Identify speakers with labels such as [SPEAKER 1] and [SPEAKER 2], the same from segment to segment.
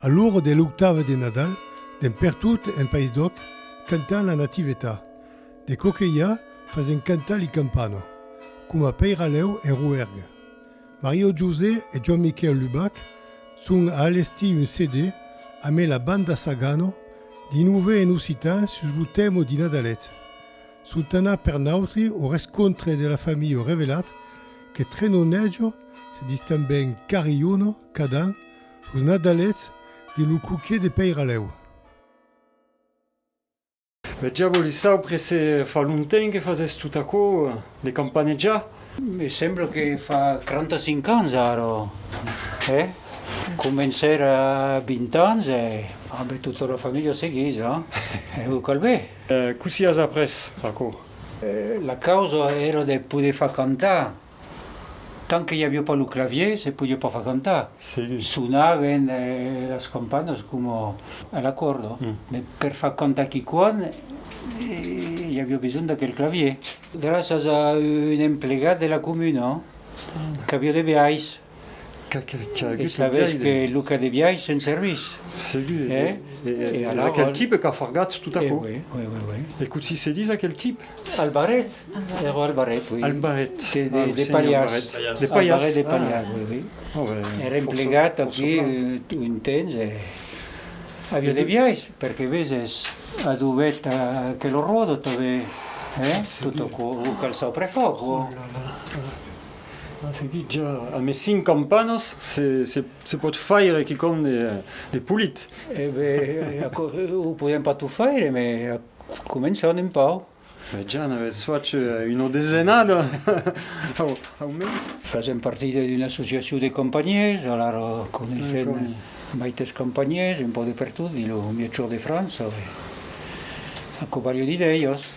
[SPEAKER 1] A l'ora de l'octava de Nadal, d'en pertot en País d'Òc cantan la Nativetà, de Coquelhar fasen cantar li Campana, coma peiralèu en Roergue. Mariò José e Joan Miquèu Lubac son a alestir un CD amé la banda Sagano di nove en occitan sus lo tèmo di Nadalet. Son tanà per nautri o rescontre de la familha Revelat que Trenonèjo se dis tanben Carriono, Cadan, Los Nadalets de lo Coquier de Peiralèu. Bèth ja vòli saupre se fa lontenh que fasètz tot aquò de campanejar? Me sembla que fa 35 ans ara, hè? Comencèr a 20 ans e. Ambé tota la familha seguís, a? E lo calbé? Cossí as après aquò? La causa èra de poder far cantar Tant que i avió pas lo clavier, se podió pas far cantar. Sonaven las campanas coma a l'acuòrdo, mas per far cantar quiquan i avió besonh d'aquel clavier. Gràcias a un emplegat de la comuna qu'avió de biais. E sabetz que lo cas de biais se'n servís. Segur, e es aquel tipe qu'a fargat tot aquò. E cotsi se dis aquel tipe? Albaret, ero Albaret, oui. Albaret, ah, lo senhor Albaret. De Palhas. Albaret de Palhas, oui, oui. Ère emplegat aquí un temps e avia de biais, perque veses adubèt aquel rodo tanben, tot aquò, lo calçau prefòc. A seguit ja a mes cinc campanas se pòt faire quicòm de polit. E ben, aquò o podèm pas tot faire, me començam un pauc. Ben ja n'avètz fach una desenada, au mens. Fasèm partida d'una associacion de companhièrs, alara coneissèm maites companhièrs, un pauc de pertot dins lo mièg sud de França, aquò balho dire, d'ellas.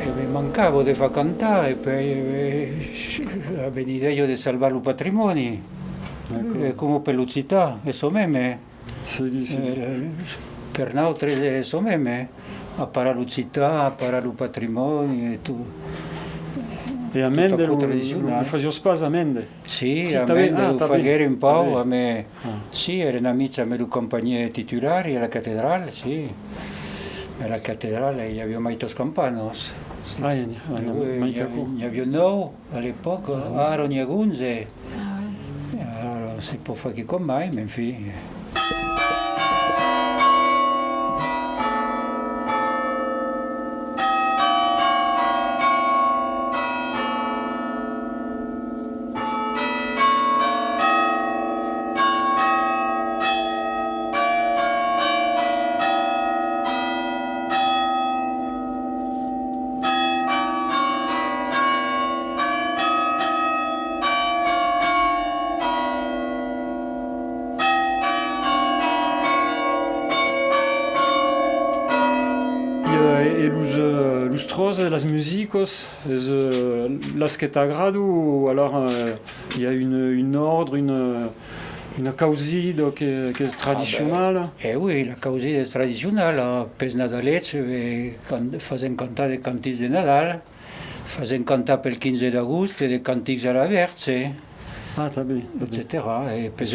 [SPEAKER 1] E me mancavo de far cantar e pei avenid'eo de salvar lo patrimòni, e comu pe l'occitan e çò meme. Per nautres es ço meme, a parar l'occitan, a parar lo patrimòni e tot. E a Mende lo fasiós pas a Mende? Si, a Mende lo faguère un pauc, amé, si, eren amics amé lo campanhier titular e a la catedrala, si, a la catedrala i avió mai tos campanos, si, n'avió nòu. A l'epòca, ara n'i a 11. Ara se pòt far quicòm mai, men fin. las musicos es las que t'agrado o alara i a un ordre, Una causida qu'es tradicionala? E ui, la causida es tradicionala. Pes Nadalets fasèm cantar de cantics de Nadal, fasèm cantar pel 15 d'agost de cantics a la Vèrtze, etcetèra. E pes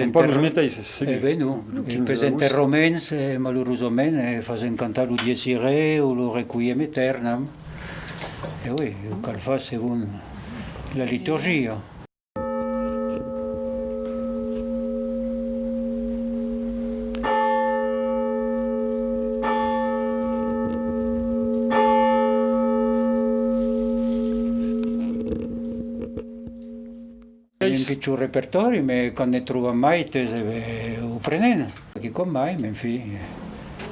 [SPEAKER 1] enterraments, malurosament, fasèm cantar lo Dies Irae o lo Requiem Eternam. E ui, cal far segon la liturgia. Ai un pichon repertòri, me quand ne tròbam mai, te se ve o prenent. Perque com mai, m'en fui.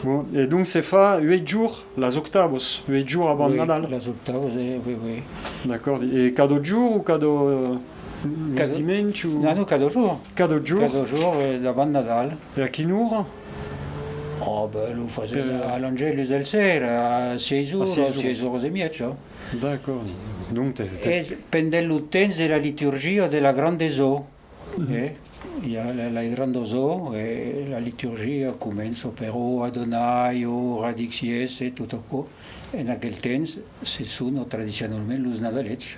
[SPEAKER 1] Bon, e donc se fa ueit jours, las octavos, ueit jours abant Nadal? Oui, las octavos, eh, oui, oui. D'accord, e cadò jour ou cadò los dimenhs ou? Non, non, cadò jour. Cadò jour? Cadò jour abant Nadal. E a quina ora? Oh, ben, lo fasen a l'Angelus del ser, a sièis oras, sièis oras e miètja. D'accord, donc te. E pendent lo temps de la liturgia de la Grande Zo. E i a la gran dosò e la liturgia començo per o Adonai, o radix Iess e tot aquò, en aquel temps se sono tradicionalment los nadalets.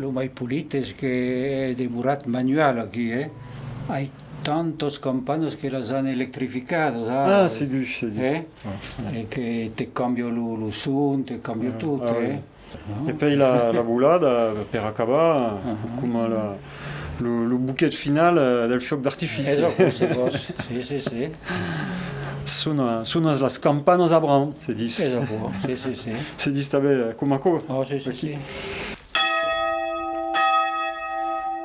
[SPEAKER 1] Lo mai polit es que hè demorat manual aquí, hè. Ai tantos campanas que las an electrificadas ara. Ah, segur, segur. Hè? E que te cambia lo son, te cambia tot, hè. E pei la bolada, per acabar, coma lo boquet final del fiòc d'artifici. Es aquò, se vòs, si, si, si. Sonas las campanas a Bran, se dis. Es aquò, si, si, si. Se dis tanben coma aquò. Oh, si, si, si.